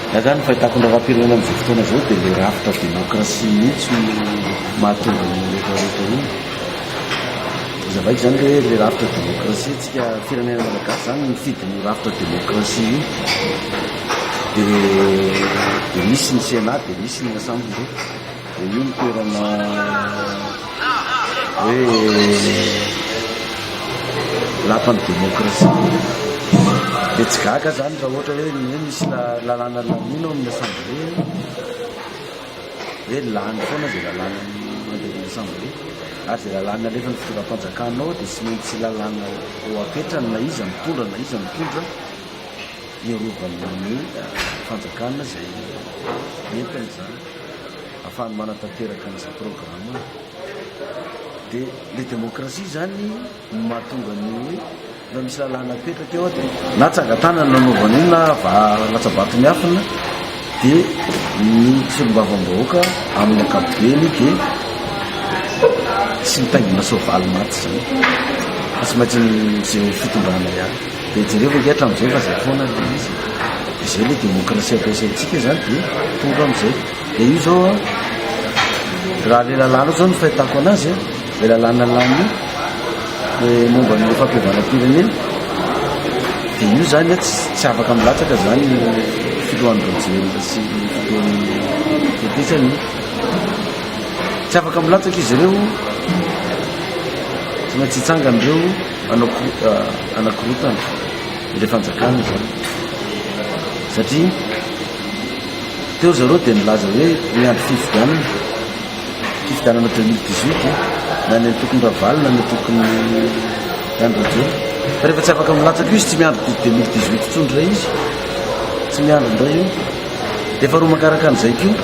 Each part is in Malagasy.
Raha izany ny fahitako ny raharaham-pirenena amin'izao fotoana izao dia ilay rafitra demokrasia mihitsy no mahatonga an'io rehetrarehetra io. Hazavaiko izany hoe ilay rafitra demokrasia tsika firenena malagasy izany mifidy ny rafitra demokrasia io. Dia dia misy ny Sénat, dia misy ny Assemblée. Dia io ny toerana hoe lapan'ny demokrasia. Dia tsy gaga zany raha ohatra hoe ny hoe misy lalàna lamina ao amin'ny assemblée hoe lany foana izay lalàna mandeha amin'ny assemblée. Ary izay lalàna alefan'ny fitondram-panjakana ao dia tsy maintsy lalàna eo apetrany na iza mitondra na iza mitondra hiarovana ny fanjakana izay entiny izany. afahany manatanteraka an'izay programme dia ilay demokrasia izany no mahatonga ny hoe na misy lalàna apetraka eo dia na tsangatanana nanaovana io na latsabato miafina dia ny solombavambahoaka amin'ny ankapobeny dia tsy mitaingina soavaly maty izany fa tsy maintsy ny izay fitondrana ihany Dia jereo ve hatramin'izay fa izay foana ilay izy e. Izay ilay demokrasia ampiasaintsika izany dia tonga amin'izay. Dia io izao an, raha ilay lalàna izao no fahitako anazy an, ilay lalàna lany dia momba ny fampihavanam-pirenena, dia io izany an tsy afaka milatsaka izany filohan'ny Rajoelina sy ny filohan'ny Tetesany io. Tsy afaka milatsaka izy ireo, tsy maintsy hitsangana ireo. Hanakorotana ilay fanjakana izany satria teo ry zareo dia nilaza hoe miandry fifidianana, fifidianana 2018 na ny antokony Ravalo na ny antokony Andry Rajoelina. Fa rehefa tsy afaka milatsaka io izy tsy miandry 2018 intsony indray izy, tsy miandry indray io. Dia faharoa mankaraka an'izay koa,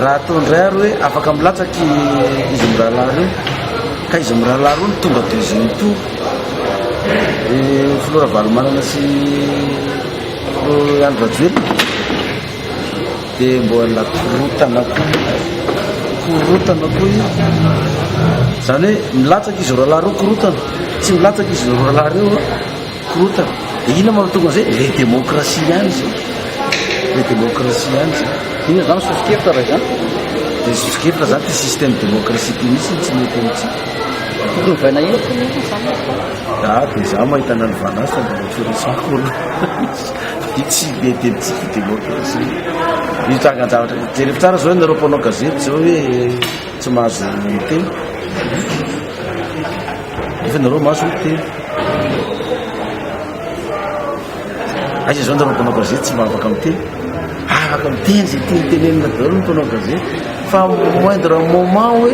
raha atao indray ary hoe afaka milatsaka izy mirahalahy ireo, ka izy mirahalahy ireo no tonga deuxième tour, dia filoha Ravalomanana sy filoha Andry Rajoelina dia mbola korotana koa korotana koa io izany hoe milatsaka izy roalahy ireo korotana tsy milatsaka izy roalahy ireo Korontana? Dia inona manao tokana izay? Ilay demokrasia ihany izay. Ilay demokrasia ihany izay. Inona izany soso-kevitra raha izany? Dia soso-kevitra izany ity système demokrasia ity mihitsy no tsy mety amintsika. Tokony hovaina inona koa mihitsy izany? Ah, dia izaho mahita anà ny vanasa dia mba tsy resako olo. Ity tsy mety amintsika io demokrasia io. Io trangan-javatra. Jereo tsara izao ianareo mpanao gazety izao hoe Tsy mahazo miteny nefa nareo mahazo miteny. Aiza izao nareo mpanao gazety tsy mba afaka miteny? Afaka miteny izay tiany tenenina daholo ny mpanao gazety fa moindre moment hoe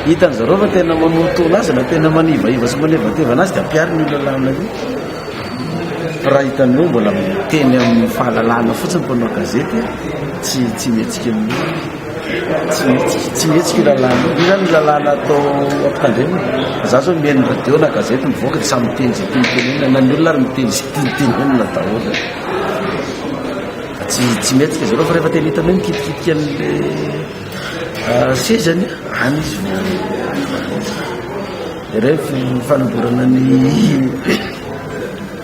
hitan'ny zareo fa tena manorotona azy na tena manivaiva sy manevatevana azy dia ampiary ny lalàna io. Raha hitan'ny hoe mbola miteny amin'ny fahalalahana fotsiny mpanao gazety tsy tsy mihetsika amin'io. Tsy mihetsika io lalàna io. Io zany ny lalàna atao ampitandremana. Za zao mihaino ny radio na gazety mivoaka dia samy miteny izay tiany tenenina na ny olona ary miteny izay tiany tenenina daholo. Tsy tsy mihetsika izy ireo fa rehefa tena hitany hoe mikitikitika an'ilay sezany any izy no jereo ny fanomborana ny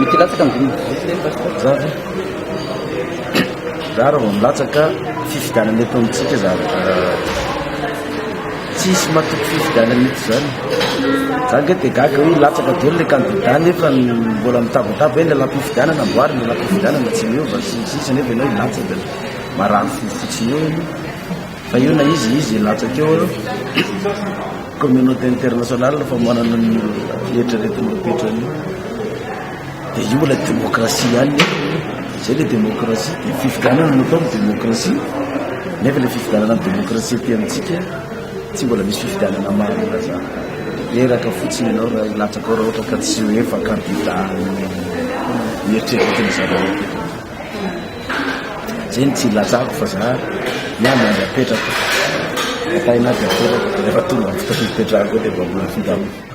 Mikilatsaka ny dimy zara zara vao milatsaka fifidianana eto amintsika zara tsisy matoky fifidianana eto zany za nge de gaga hoe latsaka daholo le kandida nefa mbola mitabataba hoe ny lalam-pifidianana amboary ny lalam-pifidianana tsy miova sy ny sisa nefa ianao hilatsaka marary fo fotsiny eo Fa io na izy izy latsaka eo eo communauté internationale fa manana ny eritreretina mipetrany dia io mbola démocratie ihany zay le démocratie dia fifidianana no atao ny démocratie nefa le fifidianana ny démocratie aty amintsika tsy mbola misy fifidianana marina zany reraka fotsiny ianao raha latsaka ao raha ohatra ka tsy ho efa candidat mieritreritra tena zany Zeny tsy ilazako fa za miandry an'ilay apetrako. Atahin'ahy dia apetrako, rehefa tonga amin'ny fotoana ipetrahako eo dia vaovao ny findramako.